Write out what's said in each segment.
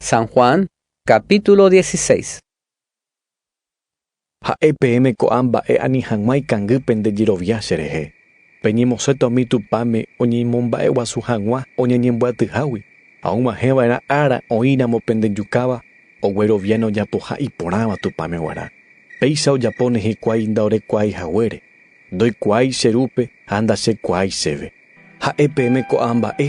San Juan, capítulo 16. Ha'e peẽme ko'ã mba'e ani hag̃ua ikangy pende jerovia cherehe, peñemosẽta umi tupãme oñeimomba'eguasu hag̃ua oñeñembyatyhágui, ha og̃uahẽva'erã ára oĩramo pende jukáva ogueroviáne ojapoha iporãva Tupãme guarã. Péicha ojapo nehekuái ndaorekuaái haguére, ndoikuaái che rúpe ha ndachekuaái chéve. Ha'e peẽme ko'ã mba'e,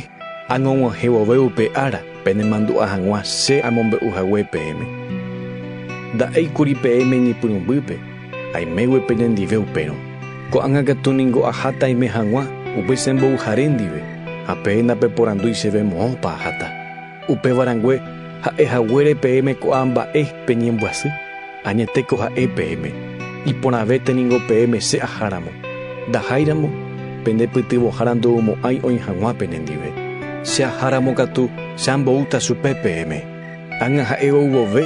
añog̃uahẽ vove upe ára, penemandu'a hag̃ua che amombe'u hague peẽme. Nda'éi kuri peẽme iñepyrũmbýpe, aimégui penendive upérõ. Ko'ág̃a katu ningo aháta aime hag̃ua upe che mbovyjare ndive, ha peẽ ndapeporandúi chéve moõpa aháta. Upéva rangue, ha'e haguére peẽme ko'ã mba'e peñembyasy. Añetéko ha'e peẽme, iporãvéte ningo peẽme che aháramo, ndaháiramo pende pytyvõhára ndoumo'ãi oĩ hag̃ua penendive. Che aháramo katu che amboúta chupe peẽme, ág̃a ha'e ou vove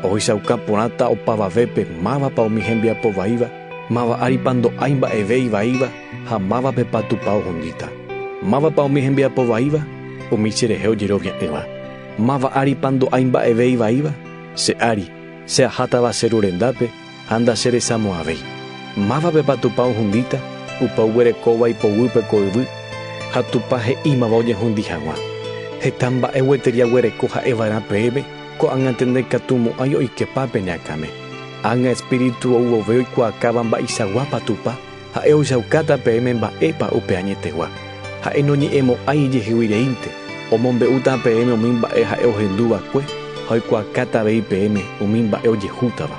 ohechauka porãta opavavépe mávapa umi hembiapo vaíva, máva áripa ndo'ái mba'eve ivaíva ha mávapepa Tupã ohundíta, mávapa umi hembiapo vaíva umi cherehe ojerovia'ỹva, máva áripa ndo'ái mba'eve ivaíva che ári, Che ahátava che ru rendápe ha ndacheresamo'ãvéi. Mávapepa Tupã ohundíta? Upe oguerekóva ipoguýpe ko yvy, ha Tupã he'ímava oñehundi hag̃ua. Heta mba'e gueteri aguereko ha'eva'erã peẽme, ko'ág̃ante ndaikatumo'ãi oikepa pene akãme. Ág̃a espíritu ou vove oikuaakáva mba'eichaguápa Tupã. Ha'e ojaukáta peẽme mba'épa upe añetegua. Ha'e noñe'ẽmo'ãi ijehegui reínte, omombe'úta peẽme umi mba'e ha'e ohendu va'ekue ha oikuaakáta avei peẽme umi mba'e ojehútava.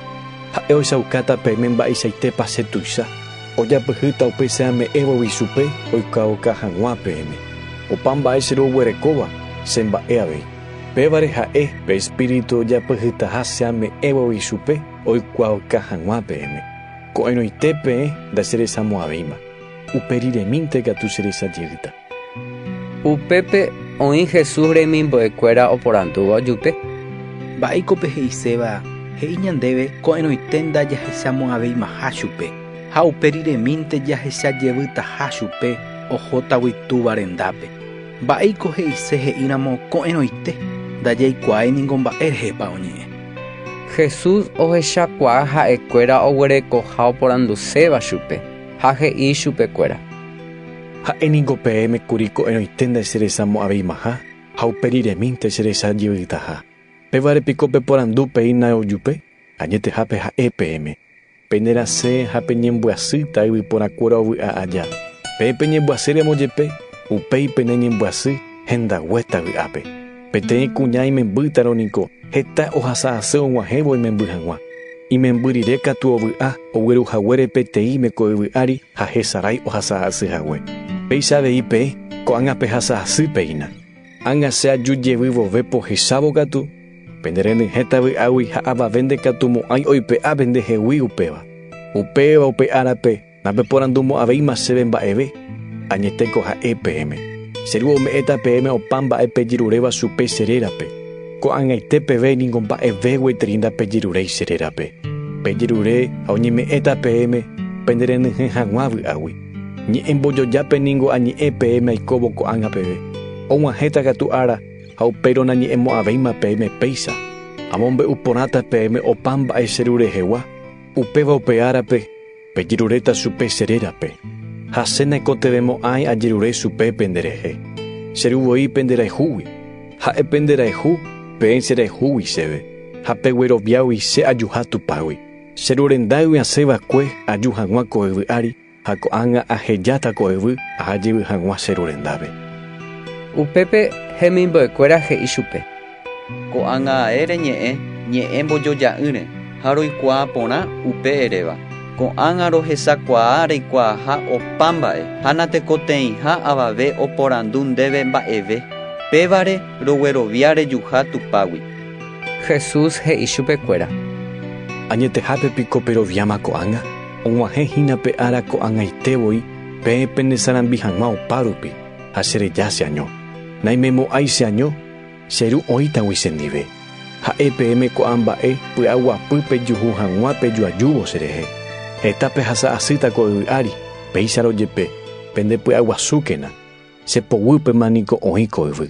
Ha'e ojaukáta peẽme mba'eichaitépa che tuicha, ojapyhýta upe che ame'ẽvogui chupe oikuaauka hag̃ua peẽme. Opa mba'e che roguerekóva, che mba'e avei. Pévare ha'e pe Espíritu ojapyhytaha che ame'ẽvogui chupe oikuaauka hag̃ua peẽme. Ko'ẽrõite peẽ ndacheresamo'ãvéima, upe riremínte katu cheresajeyýta. Upépe oĩ Jesús remimbo'ekuéra oporandúva ojupe. Mba'éiko pe he'iséva he'i ñandéve ko'ẽrõite ndajahechamo'ãveimaha chupe, ha upe riremínte jahechajeyýtaha chupe ohótagui Túva rendápe? Mba'éiko he'ise he'íramo ko'ẽrõite ndajaikuaái ningo mba'e rehépa oñe'ẽ? Jesús ohechakuaa ha'ekuéra oguerekoha oporanduséva chupe, ha he'i chupekuéra: “Ha'e ningo peẽme kuri ko'ẽrõite ndacheresamo'ãveimaha ha upe riremínte cherecha jeyvytaha. Pévare piko peporandu peína ojupe? Añetehápe ha'e peẽme. Penerasẽ ha peñembyasýta yvyporãkuéra ovy'a aja. Peẽ peñembyasýramo jepe, upéi peneñembyasy hendaguéta vy'ápe. Peteĩ kuña imembýtarõ niko heta ohasa asy og̃uahẽvo imemby hag̃ua. Imemby rire katu ovy'a ogueru haguére peteĩme ko yvy ári ha hesarái ohasa asy hague. Péicha avei peẽ ko'ág̃a pehasa asýpe hína. Ág̃a che aju jevy vove pohechávo katu, pende renyhẽta vy'águi ha avave ndekatumo'ãi oipe'a pende hegui upéva. Upéva upe árape napeporandumo'ãvéima chéve mba'eve, añeteko ha'e peẽme. Che Ru ome'ẽta peẽme opa mba'e pejeruréva chupe che rérape. Ko'ag̃aite peve ningo mba'eve gueteri ndapejeruréi che rérape. Pejerure ha oñeme'ẽta peẽme pende renyhẽ hag̃ua vy'águi. Ñe'ẽmbojojápe ningo añe'ẽ peẽme aikóvo ko'ág̃a peve. Og̃uahẽta katu ára ha upérõ nañe'ẽmo'ãvéima peẽme péicha. Amombe'u porãta peẽme opa mba'e che rurehegua, upéva upe árape pejeruréta chupe che rérape. Ha che naikotevẽmo'ãi ajerure chupe pende rehe, che ru voi pende rayhúgui, ha'e pende rayhu peẽ che rayhúgui chéve, ha pegueroviágui che ajuha Tupãgui. Che ru rendágui asẽ va'ekue aju hag̃ua ko yvy ári, ha ko'ág̃a ahejáta ko yvy aha jevy hag̃ua che ru rendápe. Upépe hemimbo'ekuéra he'i chupe. Ko'ág̃a ae reñe'ẽ ñe'ẽ mbojoja'ỹre ha roikuaa porã upe eréva. Ko'ág̃a rohesakuaa reikuaaha opa mba'e ha natekotevẽiha avave oporandu ndéve mba'eve. Pévare roguerovia rejuha Tupágui. Jesús he'i chupe kuéra. Añetehápe piko peroviáma ko'ág̃a? Og̃uahẽ hína pe ára ko'ag̃aite voi peẽ pene sarambi hag̃ua opa rupi, ha che reja che año. Naimemo'ãi che año, che Ru oĩtagui che ndive. Ha'e peẽme ko'ã mba'e py'aguapy pejuhu hag̃ua pejuajúvo che rehe. Heta pehasa asýta ko yvy ári, péicharõ jepe, pende py'aguasúkena, che poguýpema niko oĩ ko yvy.